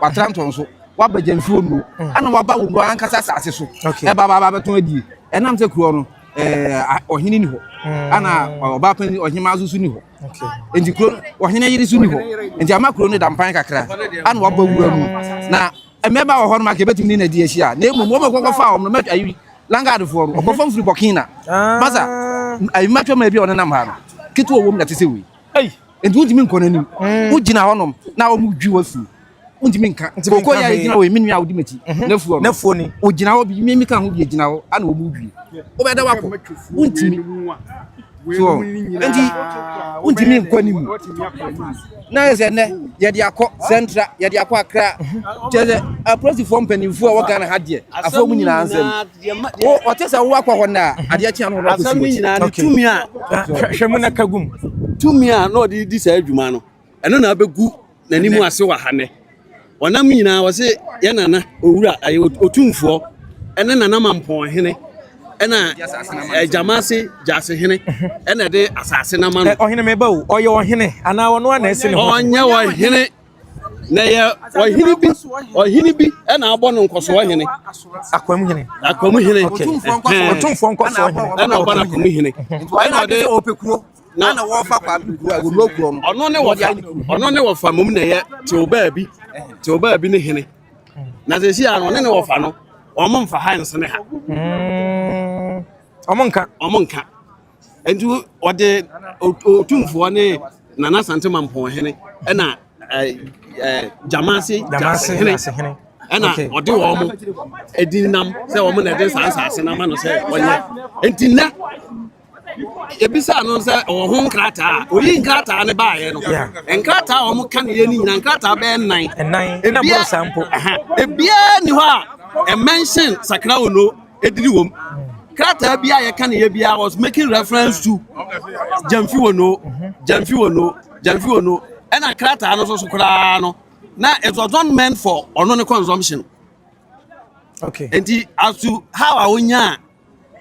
Watra ntɔn so, wabɛgya nsuo nnuro, ɛna waba wo wura ankasa asase so. Ɛba ba ba bɛtɔn adie. Ɛnam sɛ kuro no ɔhene ni hɔ, ɛna ɔbaa panyin ɔhemaa nso so ni hɔ. Nti kuro ɔhene yere so ni hɔ. Nti ama kuro no da mpan kakra, ɛna waba wura mu. Na mmɛba wɔ hɔ no ma ka ebetumi ne na di ahyia. Na emu wɔn kɔkɔ fa wɔn no mɛtwa ayi langaadfoɔ no ɔkɔ fam firi kɔkina. Masa ayi mɛtwa mɛ bi a ɔnenam ha no ketewa wɔm na te sɛ wei. Nti wontumi nkɔ n'anim. Mm. Wogyina hɔnom na wɔn dwi wɔ fi. Wontumi nka. Nti mi nka hwee. Okɔ yɛ gyina wɔ emi nua a wodi m'akyi. Mhm. N'afu hɔ. N'afu ni. Ogyina hɔ bi mi mi ka ho bi gyina hɔ ana wɔn dwi. Wobɛ da wakɔ. Wontumi. So nti wontumi nkɔ anim. Na yɛ sɛ nnɛ yɛde akɔ sɛntra yɛde akɔ akra. Kyerɛ sɛ apolisifoɔ mpanimfoɔ a wɔgana ha deɛ afɔ mu nyinaa nsɛm. wo ɔte sɛ wo akɔ hɔ na mhm. adeɛ kyeɛ no asɛm no nyinaa ne tumi a hwɛ mu na ka gum tumi a na ɔde di saa adwuma no ɛno na abɛgu n'anim ase wɔ ha nɛ ɔnam nyinaa wɔ se yɛ nana owura ɔtumfoɔ ɛne nana mampɔn hene ɛna ɛgyama ase gyase hene ɛna ɛde asase no ama no ɔhene meba o ɔyɛ ɔhene anaa ɔno a na ɛse ne ho ɔnyɛ ɔhene Na ɛyɛ ɔhene bi ɔhene bi na abɔ no nkɔsoɔ hene. Akwam hene. Akwam hene. Ɔtumfoɔ nkɔsoɔ hene. Ɛna ɔbɔ no akwam hene. Ɛna ɔde ɔpɛ kuro. Na na wɔfa kwa kuro a wɔnuro kuro no. Ɔno ne wɔfa ɔno ne wɔfa mom na ɛyɛ tew baabi tew baabi ne hene. Na sɛ si ano ɔne ne wɔfa no wɔn mfa ha nsene ha. Wɔn nka. Wɔn nka. Enti wɔde Otumfoɔ ne Nana Asante Mampɔnhene ɛna Gyamase Gyasehene ɛna ɔde wɔn mo ɛdi nam sɛ wɔn na ɛde saa nsaase no ama no sɛ ɔnyɛ. Enti nnɛ ebisa no sɛ ɔwɔ ho nkrataa a oyi nkrataa ne baayɛ no nkrataa a wɔn ka ne yɛ ne nyinaa nkrataa bɛyɛ nnan. Nnan ɛna bɔ saa mpo. Ebiara ni hɔ a ɛmɛnhyɛn sakra ono. ediri wom. Krataa bi a yɛka ne yɛ biara was making reference to Gyamfi Wono, Gyamfi Wono, Gyamfi Wono. Ɛna krataa no nso so koraa no, na it was not meant for ɔno ne consumption. Okay. Nti as to how a wonya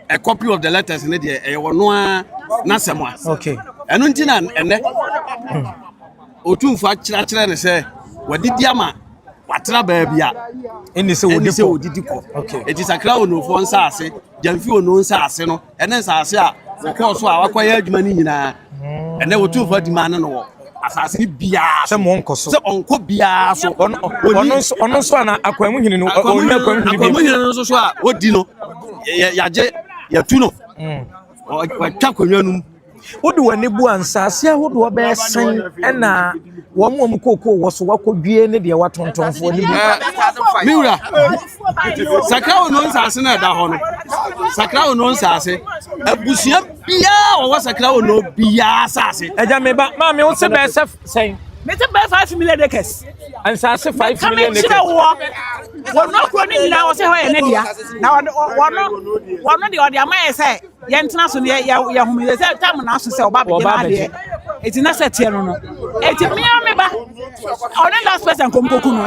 a copy of the letters ne deɛ ɛyɛ wɔn a n'asɛm a. Okay. Ɛno nti na ɛnɛ. Hmm. Otumfoɔ akyerɛkyerɛ no sɛ wadidi ama watra baabi a ɛne sɛ wɔdidi kɔ. Enti sakra onufoɔ nsaase, gyamfi onu nsaase no, ɛne nsaase a wɔkɔɔ so a wakɔyɛ adwuma no nyinaa. Hmm. Ɛnɛ otumfoɔ adi maa no no wɔ asase no biara sɛ monkɔ so sɛ ɔnkɔ biara so ɔno nso ana akwan mu hene no ɔnyɛ akwan mu hene bi no nso so a ɔdi no yɛagye yɛtu no hmm. wɔatwa akonnwa no mu Wode w'ani bu a, nsase ahodoɔ bɛyɛ sɛn na wɔn a wɔn kookoo wɔ so wakɔdwie ne deɛ watontɔnfoɔ ne bu? Me wura, sakra wo no nsase no ɛda hɔ no, sakra wo no nsase, abusua biara wɔwɔ sakra wo no biara asase. Ɛgya me ba, maa me wo se bɛɛ sɛ sɛn? Me se bɛɛ five million acres. Nsase five million acres. Kame nkyerɛ wɔ, wɔn akuro ne nyinaa wɔsɛ hɔ yɛ ne dea, na wɔn, wɔn, wɔn deɛ wɔde ama yɛ sɛ, yɛntena so no yɛ yɛ yɛ home yɛ sɛ tam na aso sɛ ɔba abɛgye na adeɛ eti na sɛ teɛ no no eti mmea me ba ɔne last person kɔm kɔku no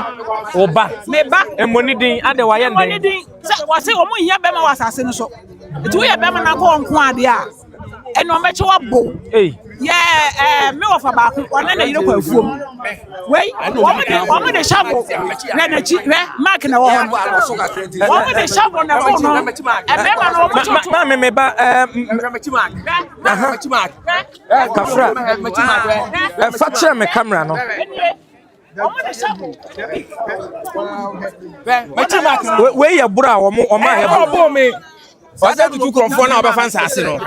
ɔba me ba ɛmɔ ne din adɛ wayɛ ɛmɔ ne din sɛ wɔse wɔn nyɛ bɛma wɔ asase no so eti woyɛ bɛma na kɔ nko adeɛ a ɛna wɔn bɛkyɛ wɔ bo. Yɛɛ ɛɛ me wɔfa baako ɔne ne yere kɔ afuom. Wei wɔn de wɔn de shovel hwɛ n'akyi hwɛ mark na ɛwɔ hɔ no. Wɔn de shovel na ɛwɔ no. Ɛbɛrima no wɔn toto. Maame me ba ɛɛ aha kafra ɛfa kyerɛ me camera no. wei yɛ boro a wɔn wɔn ayɛ boro ɔbɔ mi ɔsɛ tutu kurɔfoɔ na ɔbɛfa nsaase no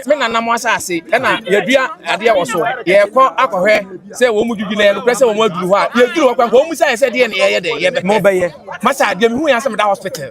me na nam asaase ɛna yɛdua adeɛ wɔ so yɛkɔ akɔhwɛ sɛ wɔn mu dwudwu na yɛn korɛ sɛ wɔn aduru hɔ a yɛduru hɔ kwan wɔn mu sɛ yɛ sɛ deɛ na yɛyɛ dɛ yɛbɛpɛ mo bɛyɛ masa deɛ mi hu yɛn asɛm da hospital.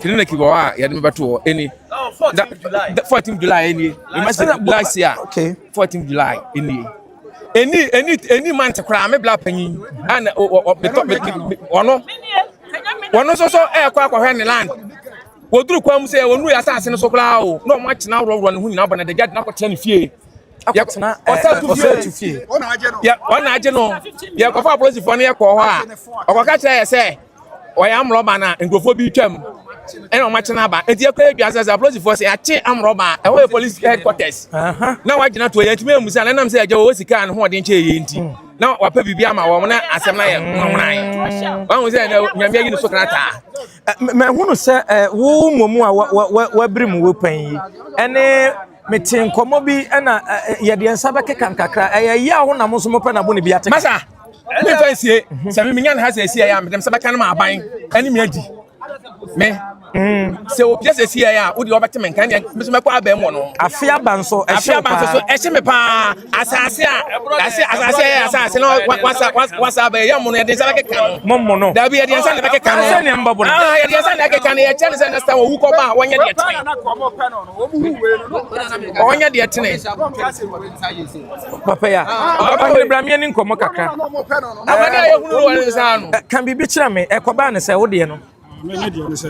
clinic bi wɔ hɔ a yɛde me bɛto hɔ ɛni da fourteen july ɛni remember last year fourteen july ɛni ɛni ɛni ɛni month koraa me bla panyin ɛna ɔbɛtɔ ɔno ɔno nso so ɛɛkɔ akɔhwɛ ne land wɔduru kwan mu sɛ wɔnu yɛ asase no so koraa o na wɔn akyena awurɔwurɔ ne ho nyinaa bɔ na dagya de na akɔtena ne fie yɛkɔtena ɔsatu fie ɔna agye no yɛkɔfa apolisifoɔ no yɛkɔɔ hɔ a ɔkɔka kyerɛ yɛ sɛ wɔyɛ amrɔba no a nkurɔfoɔ bi retwam ɛna wɔn akye no aba nti ɛkɔ yɛ dwa sɛ sɛ apolisifoɔ sɛ yɛakye amrɔba a ɛhɔ yɛ police headquarters na wɔagyina toɔ yɛntumi ammu sɛ na ɛnam sɛ agya wɔwɔ sika a ne hoɔden kyɛɛ yɛ nti na wapɛ biribi ama wɔn na asɛm no ayɛ nwanwanan wahu sɛ nyame ayi no so krataa mahunu sɛ wo mmom a wabiri mu wɔ pan yi ɛne Mete nkɔmmɔ bi na yɛde yɛn nsa bɛkeka nkakra. Ɛyɛ yaw na mo nso mopɛ na bo ne bi ate. Masa, me fa nsie. Sɛ me menya ne ha sɛ ɛsi ɛyɛ a medem sɛ bɛka no ma aban ɛne me adi. Me. Sɛ opia sɛ ɛsi ɛyɛ a wode wɔbɛte me nka ɛneɛ me nso mɛkɔ abɛn wɔ no. Afe aba nso ɛhye paa. Afe aba nso so ɛhye me paa. Asase a yɛase asase a yɛyɛ asase na wasa wasa abɛyɛ yɛ mono yɛde nsa bɛkeka no mo mono dabi yɛde nsa na bɛkeka no sɛ nea mbɔbɔ no ah yɛde nsa na ɛkeka no yɛkyɛ no sɛ next time owu kɔba a wɔnyɛ deɛ tene wɔnyɛ deɛ tene papa ya ɔne brameɛ ne nkɔmmɔ kakra amane a yɛhunu wɔ ne nsa no ka biribi kyerɛ me ɛkɔbaa ne sɛ wodeɛ no Me ne deɛ ne sɛ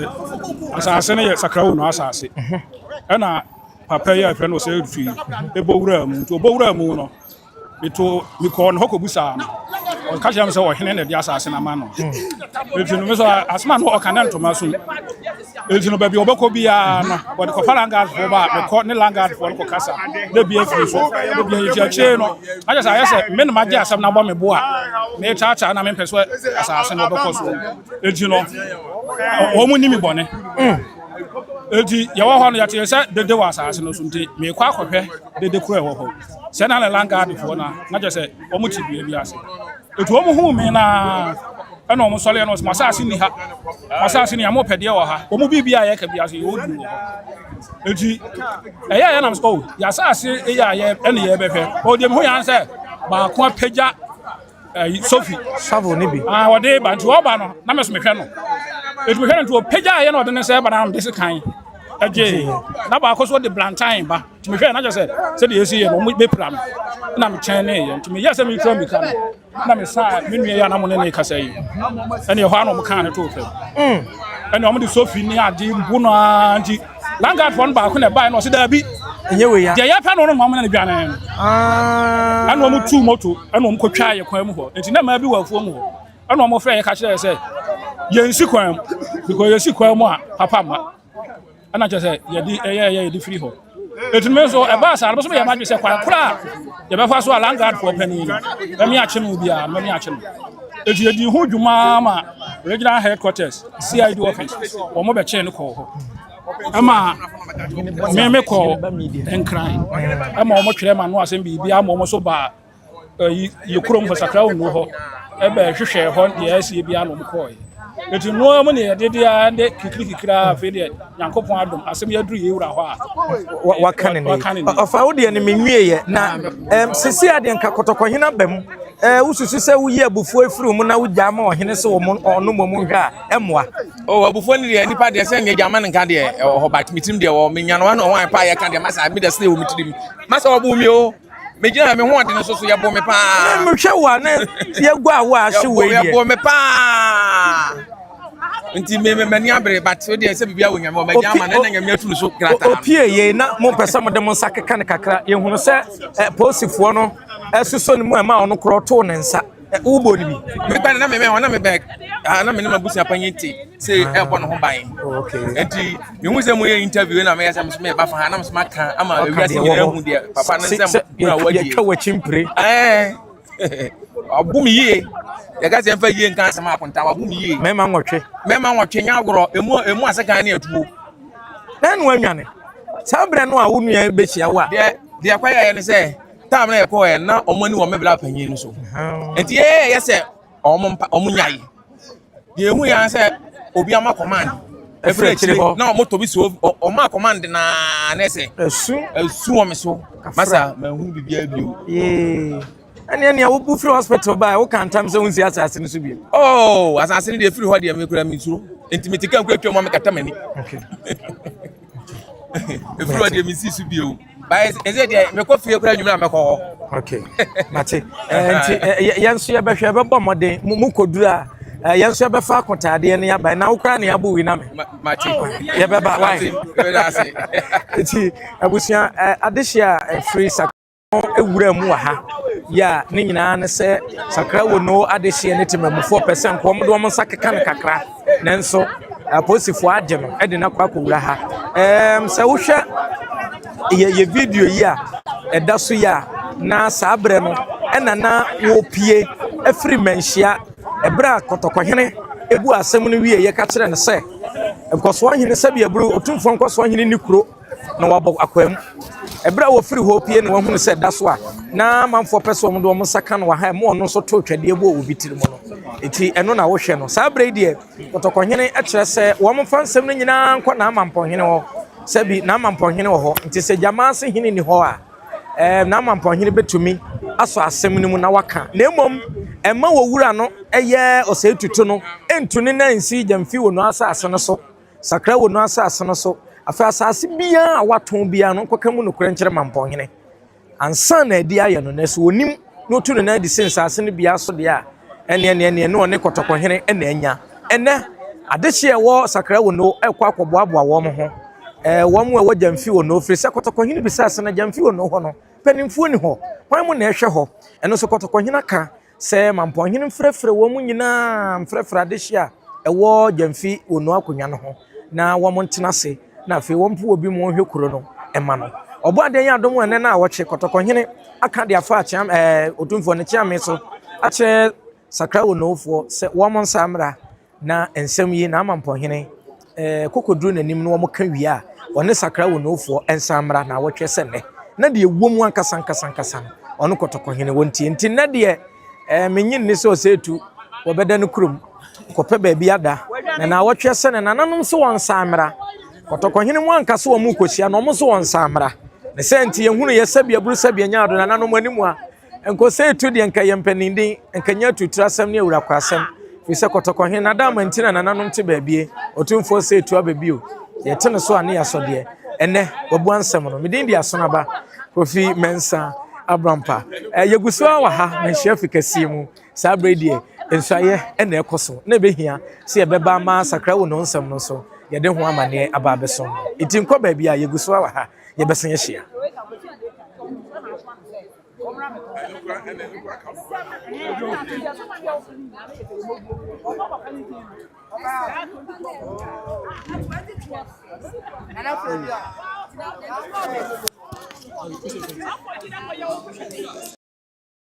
asase no yɛ sakra wunu asase ɛna papa yi a ɛfrɛ no sɛ firi ɛbɔ wura mu nti ɔbɔ wura mu no meto mekɔɔ no hɔ kɔbusaa no ɔka kyerɛ me sɛ ɔhene na ɛde asase no ama no ɛnti no me sɛ asɛm a no ɔka ne ntoma so ɛnti no baabi ɔbɛkɔ biara no wɔde kɔfa langadfoɔ ba a mekɔ ne langadfoɔ no kɔkasa na bia firi so na bia yɛti akyire no ayɛ sɛ ayɛ sɛ me ne magye asɛm no abɔ me bo a metaataa na mempɛ so asase no ɔbɛkɔ so Enti no, wɔn ni me bɔne. Enti yɛwɔ hɔ no, yɛtee sɛ dede wɔ asase no so, nti meekɔ akɔhwɛ dede koro a ɛwɔ hɔ. Sɛ na Lelan Gaadfoɔ no a, na kyerɛ sɛ wɔte dua bi ase. Enti wɔn huu me na ɛna wɔn sɔreɛ no, masase ni ha, masase ni ha, mopɛ deɛ wɔ ha. Wɔn biribi a yɛka bi ase, yɛwɔ duru wɔ hɔ. Enti ɛyɛ a yɛnam sɛ, oh, yɛasase yɛ a yɛ ɛne yɛbɛhwɛ. Ɔdeɛ mehu yɛn sɛ baako apagya ɛyi eh, sofi savo ne bi ah ɔde ba nti ɔba no na mɛso mehwɛ no etu mehwɛ no nti ɔpagya ayɛ na ɔde ne sɛ ba na mede se kan ɛgye na baako so ɔde blantan ba nti mehwɛ na kyɛ sɛ sɛdeɛ ɛsi yɛ no ɔmo bɛpira no na mekyɛn ne yɛ nti meyɛ sɛ mekura mika no na mesaa me nua yɛ anamo ne ne kasa yi ɛne ɛhɔ a na ɔmo kaa ne too fam ɛne ɔmo de sofi ne ade bu no ara nti Land guard fɔ no baako na ɛbae na ɔsi daabi. Ɛnyɛ wei ya. Deɛ yɛ pɛ no no mɔmena no dwane no. Ah. Ɛna ɔmo tu moto ɛna ɔmo kɔtwa yɛ kwan mu hɔ. Nti na mmaa bi wɔ afuo mu hɔ. Ɛna ɔmo frɛ yɛ ka kyerɛ yɛ sɛ yɛnsi kwan mu. Because yɛsi kwan mu a papa mma. Ɛna kyerɛ sɛ yɛde ɛyɛ ɛyɛ yɛde firi hɔ. Ɛti no nso ɛbaa saa no bɛso yɛ madwe sɛ kwan kora a yɛbɛfa so a land guard foɔ panin no mɛmi akye no biara mɛmi akye no. Ɛti yɛdi ho dwuma ma regional headquarters. CID office wɔn bɛ kyɛn no kɔɔ hɔ ɛma mɛmɛ kɔɔ nkran ɛma wɔn twerɛ ma no asɛm biribi ama wɔn so baa ɛyi yɛ kurom hɔ sakra wɔn hɔ ɛbɛ hwehwɛ hɔ deɛ ɛsi ebi ano wɔn kɔɔ yɛ eti nua wɔn ne yɛde deɛ ɛde kikiri kikiri afei deɛ. Nyankopɔn adom asɛm yi aduru yɛn wura hɔ a waka ne ne ɔfa wo deɛ no menwieɛ na sisi adeɛ nka kɔtɔkɔhena ba mu wosusu sɛ woyi abufuo afiri mu na wogyaa ma ɔhene sɛ ɔno mmom nhwɛ a ɛmmoa o abufuo no deɛ nipa deɛ sɛ neɛ gyama no nka deɛ ɛwɔ hɔ bat metirim deɛ wɔ menyanoa no ɔwan pa yɛka deɛ masa meda sɛ wɔ metirim masa ɔbo mi o megyina me ho ɔde no so so yɛbɔ me paa na mehwɛ wo a na yɛgu a wo a se wei deɛ yɛbɔ me paa nti me me mani abere but so deɛ sɛ biribi awɔ nyame wɔ mɛgya ama na na nyame atum so krata opie yei na mo pɛ sɛ mo de mo nsa keka ne kakra yɛhunu sɛ eh, posifoɔ no ɛsosɔ ne mu ɛma ɔno korɔ too ne nsa Ɛ wo bɔ no bi. Me ba na me me na me bɛ ah na me ne ma busia pa nyin te se e bɔ no ho ban. Okay. Enti me hu se mo ye interview na me yasa me me ba fa ha na me ma kan ama e wiase ni na hu de papa ne nsem na wa die. Twa wa chimpre. Eh. Abu me yie. Yɛ ka se mfa yie nka asem akonta abu me yie. Me ma nwɔtwe. Me ma nwɔtwe nya agorɔ emu emu asekan ne atuo. Na no anwane. Saa brɛ no a wo nua bɛhyia wo a. Deɛ deɛ kwa yɛ ne sɛ taam na yɛkɔ ɛ na wɔn ani wɔ me bla panyin no so nti yɛyɛ yɛ sɛ wɔn mpa wɔn nyae deɛ ehu yɛn sɛ obi ama command efiri akyire hɔ na wɔn tɔ bi so wɔn a command naa na ɛsɛ esu esu wɔn so masa ma ehu bibi abio. yee ɛnneɛ nea wobu firi hospital baa woka ntam sɛ wonsi asase no so bio oh asase no deɛ firi hɔ deɛ mekura mesuro nti mete ka nkura twam a mekata m'ani ɛfiri hɔ deɛ mensi so bio By ɛsɛ deɛ mekɔ fie kora nwumere a mɛkɔ hɔ. Okay, mate. Nti yɛn nso yɛbɛhwɛ yɛbɛbɔ mmɔden mo kɔduru a yɛn nso yɛbɛfa akotaadeɛ ne aba na wokora ne abo wi na me. Mate. Yɛbɛba wae. Nti abusua adehye a ɛfiri sakra ewura mu wɔ ha yɛ a ne nyinaa ne sɛ sakra wɔ no adehyeɛ ne temamufoɔ pɛ sɛ nkɔm de wɔn nsa keka no kakra. Nanso apolisifo agye no de no akɔ akowura ha. Ɛɛm, sɛ wohwɛ yɛ yɛ video yi a ɛda so yi a, na saa berɛ no ɛna na wɔrepie afiri mmanhyia. Ɛberɛ a kɔtɔkɔhene ebu asɛm no wieeɛ ka kyerɛ no sɛ, Nkɔsoɔhene Sɛdeɛbere, Otumfoɔ Nkɔsoɔhene nni kuro. na wɔabɔ akwaamu. Bere a wɔfirii hɔ pue na wɔhuu sɛ da so a na amanfoɔ pɛ sɛ wɔde wɔn nsa ka no wɔ ha a ɛma ɔno nso too twɛdeɛ bɔɔ obi tiri mu no, enti ɛno na wohwɛ no. Saa bere yi deɛ, kɔtɔkɔhene kyerɛ sɛ wɔmfa nsɛm no nyinaa nkɔ n'amampɔhene hɔ, sɛ bi n'amampɔhene wɔ hɔ, enti sɛ gyama ase hene nni hɔ a, ɛɛ, n'amampɔhene bɛtumi asɔ asɛm no mu na waka. Na mmom, ɛmma owura no yɛ ɔsɛetutu no ntu ne nan nsi gya mfi wɔn asase no so. Sakra wo no asase no so. Afei asase biara a watɔn biara no, ɔnkɔka mu nokorɛ nkyerɛ mampɔnhene. Ansa na adi ayɛ no, nanso ɔnim na ɔtu ne nan adi sɛ nsase no biara so deɛ a, ɛnneɛ neɛ neɛ ne ɔne kɔtɔkɔhene na anya. Ɛnnɛ, adehyeɛ a ɛwɔ Sakra wo no rekɔ akɔboaboa wɔn ho, ɛɛ, wɔn a ɛwɔ Gyamfi wo no, firi sɛ kɔtɔkɔhene bisaa sɛ, Na Gyamfi wo no hɔ no, mpanimfoɔ nni hɔ? Hwan mu na ɛhwɛ hɔ? Ɛno nso kɔtɔkɔhene aka. Sɛ Mampɔnhene mfrɛfrɛ wɔn nyinaa mfrɛfrɛ adehye a ɛwɔ Gyamfi wɔ Nua Akonnwa no ho na wɔn ntena ase na afei wɔn mpo obi ma ɔnhwɛ kuro no mma no. Ɔbɔadeɛ yɛ adom ɛnɛ na awɔkye Kɔtɔkɔhene aka de afa Kyeame ɛɛ Otumfoɔ no Kyeame so akyerɛ Sakra Onowofoɔ sɛ wɔn nsa mmra Na nsɛm yi na ama mpɔhene kokoduru n'anim na wɔka wie a, ɔne sakra wɔ Noufoɔ nsan mmra naawɔtwe sɛ nnɛ. Na deɛ ɛwɔ mu ankasa ankasa ankasa no, ɔno kɔtɔkɔhene wɔntie. Nti nnɛ deɛ, eh, mennye nni sɛ ɔsɛetu wɔbɛda no kurom kɔpɛ baabi ada, na naawɔtwe sɛ ne nananom nso wɔnsan mmra. Kɔtɔkɔhene mu anka sɛ wɔrekɔhyia no, wɔn nso wɔnsan mmra. Ne saa nti yɛhunuiɛ sɛdeɛ aburu sɛdeɛ nyaado nananom anim a Nkosɛi to deɛ nka ɛyɛ mpaninden, nka ɛnyɛ atutrasɛm ne awurakwasɛm, firi sɛ kɔtɔkɔhe na Adaama nti na nananom te baabie, Otumfoɔ Sei to aba bio, deɛ ɛte ne so a ne yɛasɔ deɛ, ɛnnɛ, wabua nsɛm no. Me din de Asonaba Kofi Mensah Abrampa. Eh, yɛgu so ara wɔ ha, manhyia fi kɛseɛ mu, saa berɛ yi deɛ, nsuaeɛ na ɛkɔ so, na ɛbɛhia sɛ yɛbɛba ama asakra wɔ Nohonsɛm no so, yɛde ho amanneɛ aba abɛso. Enti nkɔ baabiara, yɛgu so ara wɔ ha. yɛbɛsan ahyia.